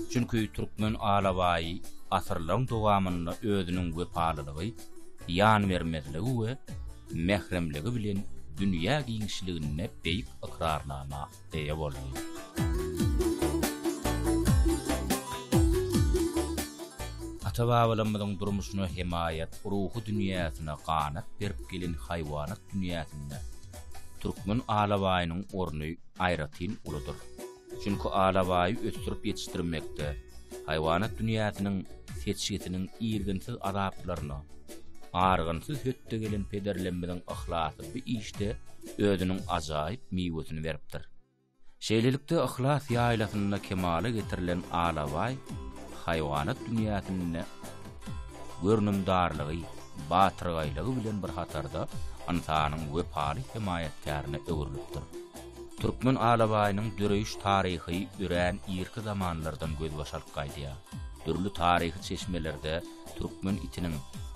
Çünki türkmen alabaýy asyrlaryň dowamynda özüniň wepalylygy, ýanbermezligi we mähremligi bilen dünýä giňişliginde beýik ykrarnama eýe boldy. Ata-babalarymyzyň durmuşyna hemaýat, ruhy dünýäsine ganat berip gelen haýwanat dünýäsinde türkmen alabaýynyň orny aýratyn uludyr. Çünki alabaýy ösdürip ýetişdirmekde, haýwanat dünýäsiniň seçgisiniň irginsiz azaplaryna, argynsyz hötde gelen pederlerimiziň yhlasy bu işde özüniň ajaýyp miwesini beripdir. Şeýlelikde, Yhlas ýaýlasynda kemala getirilen alabaý haýwanat dünýäsinde görnümdarlygy, batyrgaýlygy bilen bir hatarda ynsanyň wepaly hemaýatkärine öwrülipdir. Türkmen alabaýynyň döreýiş taryhy örän irki zamanlardan gözbaş alyp gaýdýar. Dürli taryhy çeşmelerde türkmen itiniň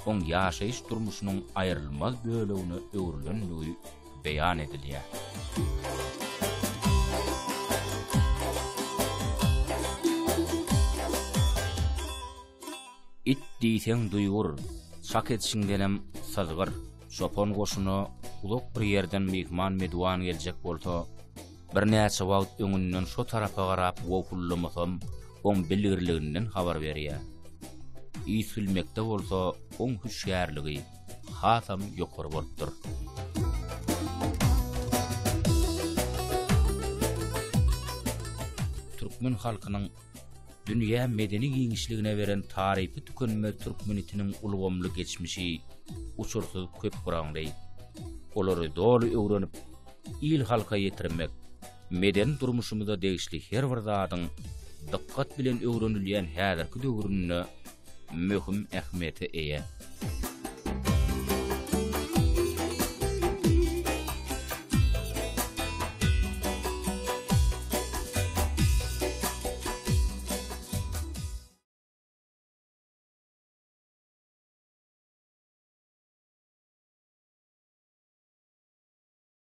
oň ýaşaýyş-durmuşynyň aýrylmaz bölegine öwrülendigi beýan edilýär. It diýseň duýgur, çak edişiňdenem syzgyr. Çopan goşuna uzak bir ýerden myhman-medwan geljek bolsa, Birnäçe wagt öňünden şo tarapa garap wowhullamasam, oň bilgirliginden habar berýär. Üýtgülmekde bolsa oň hüşgärligi hasam ýokary bolupdyr. Türkmen halkynyň Dünýä medeni giňişligine beren tarypy tükenmez türkmen itiniň ulgamly geçmişi uçursyz köp gyraňly. Olary doly öwrenip, il-halka ýetirmek, medeni durmuşymyza degişli her bir zadyň dykgat bilen öwrenilýän häzirki döwründe möhüm ähmiýete eýe.